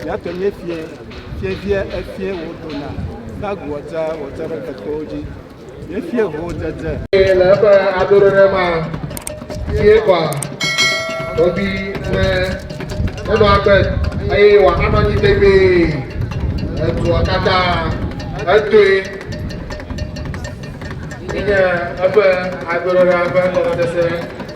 Yake nye fiɛ, fiɛviɛ efiɛ wòdona gagu wòtsa wòtsa ɖe kekewo dzi. Nye fiɛ ho dzedze. Le eƒe adoɖeɖe ma sie kɔa ɖoɖi ne enɔ agbe eye wòanɔ anyi tegbee le dua katã etoe. Enye eƒe adoɖeɖea ƒe gɔmesese.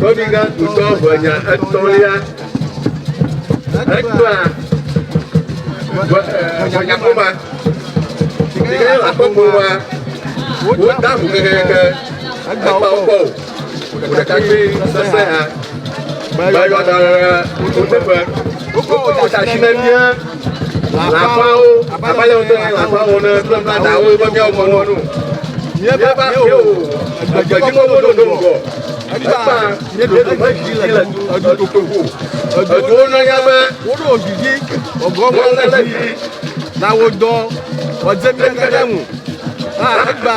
Kɔviga tutɔ ʋenya etɔ̃lia ekpla ʋenyakoma si ke nye akɔkpowa wota ŋu kekeake ekpa wokɔ o ŋu ɖekakpui sesẽ ha bayɔdara wo teƒe wokɔ wo ta si na mía Lãfawo, abe ale wòte ŋu lãfawo wɔm ne kple kple dawo be míawo kɔ nɔ nu. Míeva va xeo, egbedzi mɔwo ɖo ŋgɔ. Egbã, míeɖo nu me dzi le edu ɖoƒe ŋu. Eduwo nɔ nya be woɖo dzidzi gɔgɔm ale dzi na wo dɔ, wòadze mía katã ŋu. A Egbã.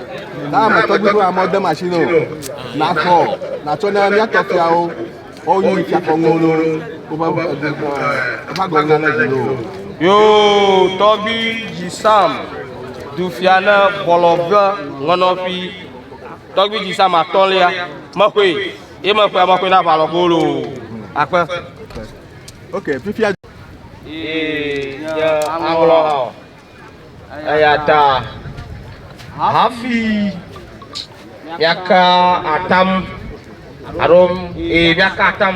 na ame tɔgbi ƒe amɔ de machine o na fɔ na tsɔ na mia tɔ fiawo o yi fia kɔ ŋo no o ba ba de ko ɛ o ba gɔ ŋa na ji o. yo tɔgbi ji sam du fia na bɔlɔ be ŋɔnɔ fi tɔgbi ji sam atɔlia me koe ye me koe me koe na ba lɔ ko lo akpe ok fifia ee ye aŋlɔ Eya ta hafi míaka atam alo ee míaka atam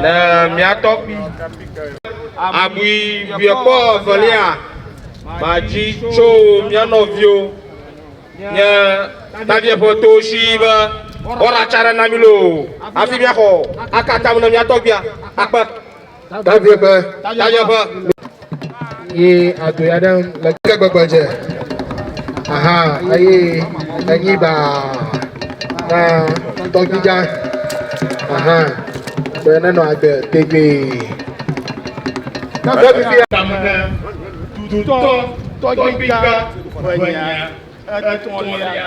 ne mía tɔgbui abui biekpɔ evelia madzi tso mía nɔviwo nye tavie ƒe to si be woaɖatsa ɖe na mí loo hafi míaxɔ aka atam ne mía tɔgbuia akpe. Davi ƒe tanya ƒe. Ye ado ya ɖe le ke gbegbe dze. Aha eye enyi ba na tɔgbidza. Aha be nenɔ agbe tegbee. Na be bibi tamne tutɔ tɔgbidza ƒe nya etɔ̃lia.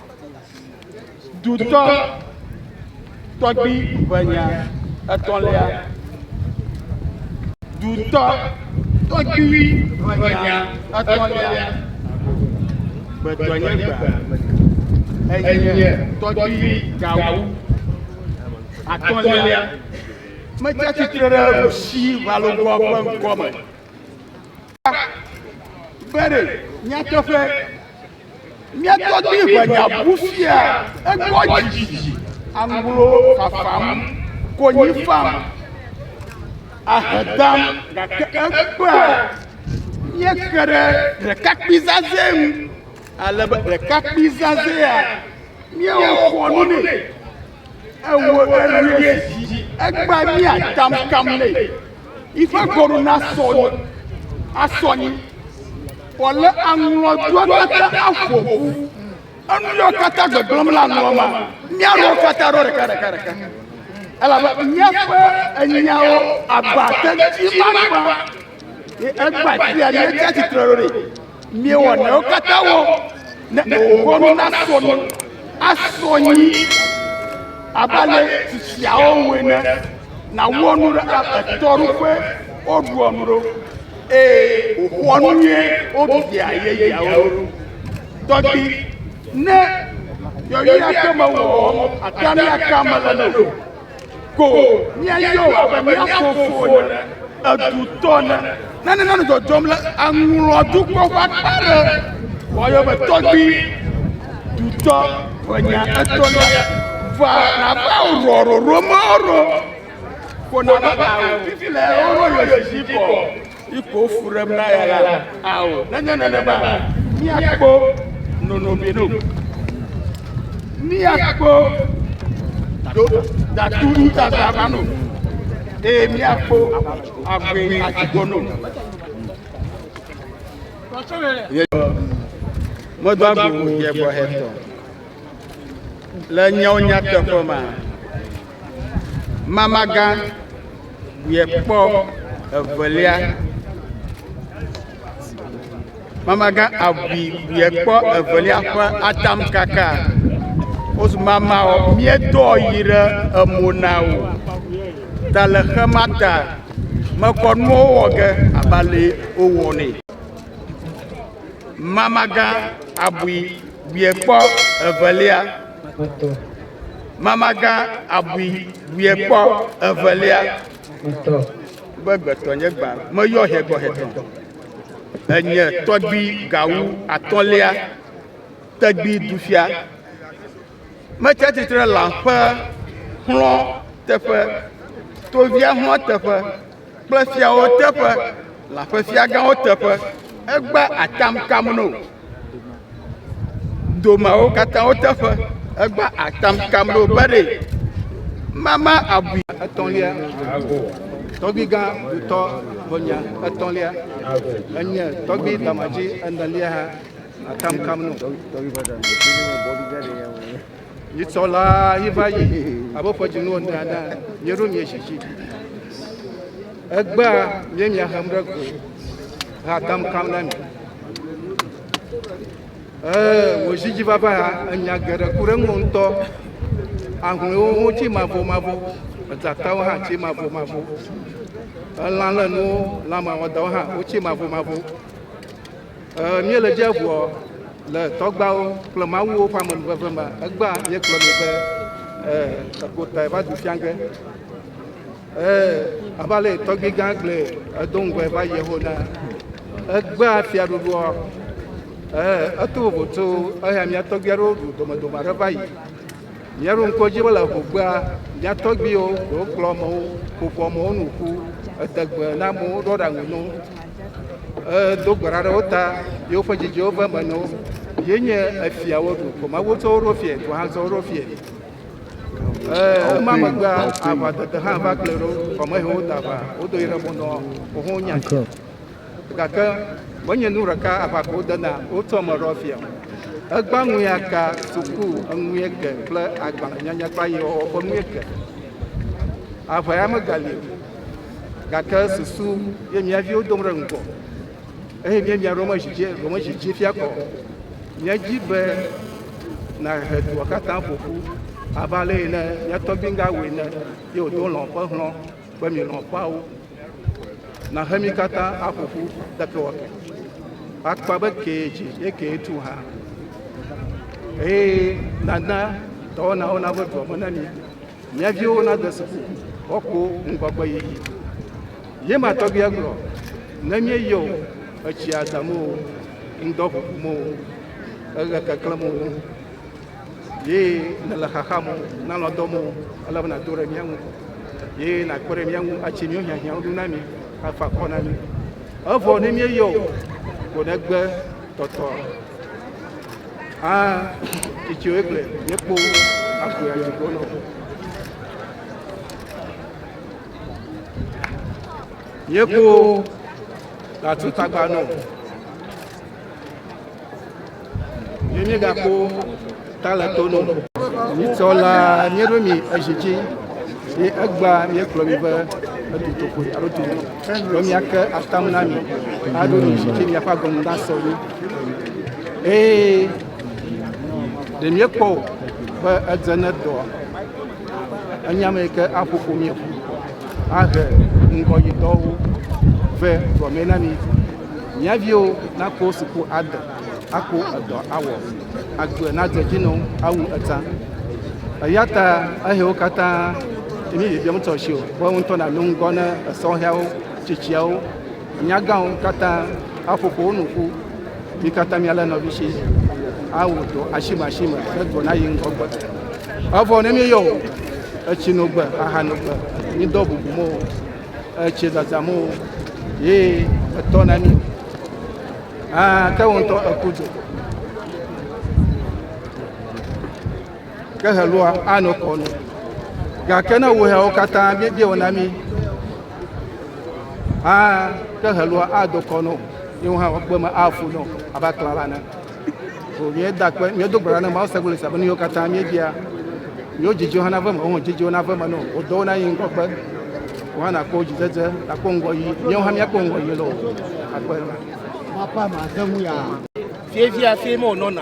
Dutɔ tɔgbi ʋenya etɔ̃lia. Dutɔ tɔgbi ʋenya etɔ̃lia. Gbetɔ nye gbe enye tɔgbi gawu atɔ̃lia. Metsi atsitre ɖe Rusi ʋalogboa ƒe ŋkɔ me. Bere, nyateƒe, míatɔ di ʋenyabu fia egbɔ dzidzi, aŋlo fafam, konyi fam, ahe dam, gake egbea míeke ɖe ɖekakpui zazɛ ŋu, alebe ɖekakpui zazɛa míewɔ xɔnu nɛ. Ewo elie dzi. Egba mia kam kam le. Ifa gɔru na sɔ asɔ nyi. Wòle aŋlɔ dua kata aƒo ƒu. Enu yɔ kata gbegblɔm la aŋlɔ ma. Mia rɔ kata rɔ ɖeka ɖeka ɖeka. Elabe miaƒe enyawo aba te dzi ma kpa. Egba tia ne tsi atsitre ɖo ɖe miewɔ newo katã wɔ ne wòwɔ nu nasɔ nu asɔ nyi abe ale si tsiawo wɔe ne nàwɔ nu ɖe etɔ ɖo ƒe woɖua nu ɖo eye wòxɔa nu nyuie wodea yeyeawo ɖo tɔgbi ne yɔyɔa ke mewɔ ate ŋu aka me le ne o. Ko míayɔa be mía fofo ne edutɔ ne. Nane nanɔ dzɔdzɔm le aŋlɔdukɔ ƒe akpa ɖe. Woayɔ be tɔgbui dutɔ ƒe nya etɔ̃lia. Va nava wò rɔrɔrɔ me rɔ. Ko nava ao fifi le rɔrɔ yɔ yɔ zi kɔ. Yi ko fu ɖem na ya la, ao, nenye nenema, míakpɔ nɔnɔme ɖo. Míakpɔ do datu nutata ma no, eye míakpɔ agbe atikɔ no. Medo agbo yebɔ hetɔ le nyawo nyateƒe ma. Mamagã yɛ kpɔ evelia. Mamagã abui yɛ kpɔ evelia ƒe atamkaka. Wozu mamawɔ míedɔ yi ɖe emo na wò. Ta le xe ma ta mekɔ nuwo wɔ ge abe ale wowɔ nɛ. Mamagã abui yɛ kpɔ evelia. Mamagã abui wuiɛ kpɔ evelia. Be gbetɔ nye gbã meyɔ hɛgbɔ hɛtɔn. Enye tɔgbi gawu atɔlia tɛgbi dufia. Metsi atsitre lã ƒe xlɔ teƒe, tovia xlɔ teƒe kple fiawo teƒe, lã ƒe fiagãwo teƒe. Egba atam kam no. domeawo katã wo teƒe. Egba atam kam ɖo be ɖe mama abui etɔ̃lia. Tɔgbigã dutɔ ʋɔnya etɔ̃lia enye tɔgbi damadzi enelia ha atam kam no. Mitsɔ la yi va yi abe ƒe dzinu ene ene mieɖo miedzi dzi. Egbea mie miahem ɖe go hea dam kam na mi. Ee, wò dzi dzi vava ya enya geɖe ku ɖe ŋuwò ŋutɔ. Ahlɔewo ho tsi mavɔ mavɔ, edzatawo hã tsi mavɔ mavɔ. Elã le nuwo, lãmawɔdawo hã wotsi mavɔ mavɔ. Míele dzia ŋuɔ le tɔgbawo kple mawuwo ƒe amenuveve me. Egbea míegblɔ nɛ be, Eko tae va du fia ge. Abe ale yi tɔgbui gã gblɔe, edo ŋgɔe va yi ho na egbea fiaɖuɖua. Eto vovo tso eya mía tɔgbui aɖewo ɖu domedome aɖe va yi. Míaɖo ŋku edzi be le ehogbea, mía tɔgbuiwo ɖewo kplɔ amewo, ƒo ƒo amewo nu ƒu, ede gbe na amewo, ɖo aɖaŋu na wo, hedo gbe ɖa ɖe wo ta, ye woƒe dzidziwo ve eme na wo. Ye nye efia woɖu, vɔ Mawu tsɔ wo ɖo fiae, dua hã tsɔ wo ɖo fiae. Ee, ema megbea, aʋadede hã va kplɔe ɖo, vɔ mehe wo da aʋa, wodo yi ɖe mo nɔ xoxo nya. Gake menye nu ɖeka aʋakɔ wodena wotsɔ me ɖɔ fia o. Egbã ŋui aka suku enui eke kple agbalẽnyanya kple ayewɔwɔ ƒe nui eke. Aʋa ya megali o, gake susu ye mía viwo dom ɖe ŋgɔ eye míemia ɖomedzidzi ɖomedzidzi fia kɔ. Míedi be nàhe dua katã ƒo ƒu abe ale yi ne mía tɔgbi Ngawi ene ye wòdo lɔ̃ ƒe hlɔ̃ be milɔ̃ ƒeawo. Na he mi katã aƒo ƒu ɖekewɔke. Akpa be kee dzi ye kee tu hã. Eye nana dɔwɔnawo nave dua me na mi. Mia viwo nade suku woakpɔ ŋgɔgbe yiyi. Ye ma tɔgbia gblɔ, ne míeyɔ o, etsia dam o, ŋdɔ ʋuʋum o, eɣe keklẽm o. Ye ne le xaxa mo, na lɔ dɔ mo, ele bena do re mia ŋu. Ye na kpere mia ŋu, a tse mio hiã hiã ŋu na mi, a fa kɔ na mi. Evɔ ne mie yɔ, ko ne gbe tɔtɔ. A titsi wo ekple, ye kpo, a ko ya yɔ nɔ. Ye kpo, la tu tagba nɔ. Ye míegakpɔ talẽtonu. Míetsɔ la míeɖo mi ezi dzi ye egba míekplɔ mi be edu tokoe alo tu mi be míake atam na mi aɖo mi zi dzi miaƒe agɔnu nasɔ mi. Eye ɖe míekpɔ o be edze ne dɔa. Enye ame yi ke aƒo ƒo mí ƒu ahe ŋgɔyitɔwo vɛ gɔme na mí. Mía viwo nakpɔ suku ade, akpɔ edɔ awɔ, agbe nadze edzi na wo awu eta. Eya ta ehewo katã mí bibiam ŋutɔ si o, be wo ŋutɔ nanɔ ŋgɔ na esɔhɛawo, tsitsiawo, Nyagãwo katã aƒo ƒo wo nu ƒu. Mi katã mialé nɔvi si awɔ dɔ asimeasime ne dɔ nayi ŋgɔ gbe. Evɔ ne míeyɔ o, etsi no gbe, aha no gbe, mídɔ bubu mo, etsi zazã mo ye etɔ na mí. Ah, ke wo ŋutɔ eku do. ke helua anɔ kɔ nu. Gake ne wò hɛawo katã míebia wò na mí hã ke helua ado kɔ nɔ yewo hã woagbe me afu nɔ abe aklã la ne. So míeda kpe míedo gbe ɖa ne Mawu segbe le sia be nu yewo katã míebia yewo dzidziwo hã nave me wo hã dzidziwo nave me nɔ wò dɔwo na yi ŋgɔgbe wò hã nakpɔ dzidzedze nakpɔ ŋgɔ yi míewo hã míakpɔ ŋgɔ yi lɔ akpe. Mapa ma ze ŋu ya. Fievia fie me wònɔna.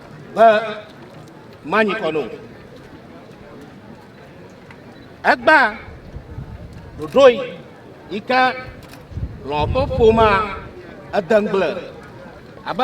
be manyi kɔ no. Egba ɖoɖo yi ke lɔ ƒe ƒomea ede ŋgble abe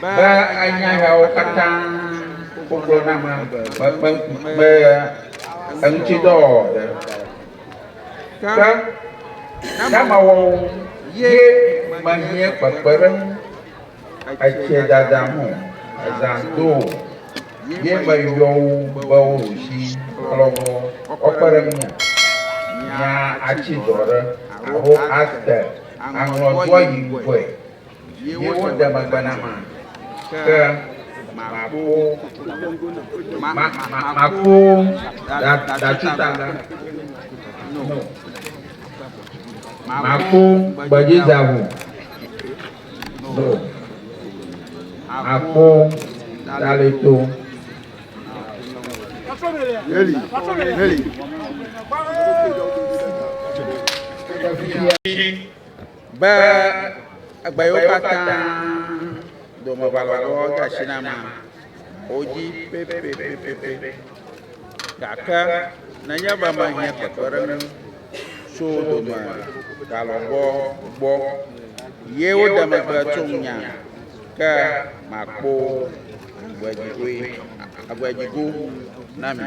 Be anya yawo katã wogblɔ na ame be eŋutidɔ wɔwɔ ɖe ke nama wɔwɔ ye mehiɛ kpekpeɖeŋu etsɛ dada mo ezã do o ye me yɔ wo be wo ɖushi klɔ be wo kpe ɖe ŋunya mia atsi dɔ ɖe alo ate aŋlɔ doa yi ŋkɔɛ. Ye wo de megbe na ma, ke ma ko, ma, ma, ma, ma ko da, datsi tagba, no, ma ko gbedzi dzaŋu, no, ma ko dali to. Heli, heli. Be egbe yiwo katã dome valɔvɔ de asi na ma, wodzi pɛpɛpɛpɛpɛ. Gake nenye be mehiã kpekpeɖeŋu tso dome valɔvɔ gbɔ ye woɖe megbe tso ŋunye ke, makpɔ agbedzigoe, agbedzigo na mi.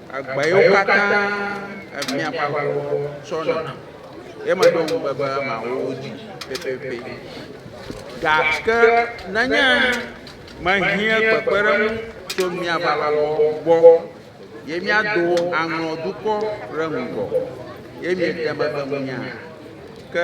Agba yiwo katã efiã ƒe aʋawɔwɔ tsɔna ye meɖo ŋugbe be mawɔ wo dzi pɛpɛpɛ. Gake nenye mehiã kpekpeɖeŋu tso mía aʋawɔwɔ gbɔ ye míado aŋlɔ dukɔ ɖe ŋgɔ ye miede megbe ŋunyea? Ke.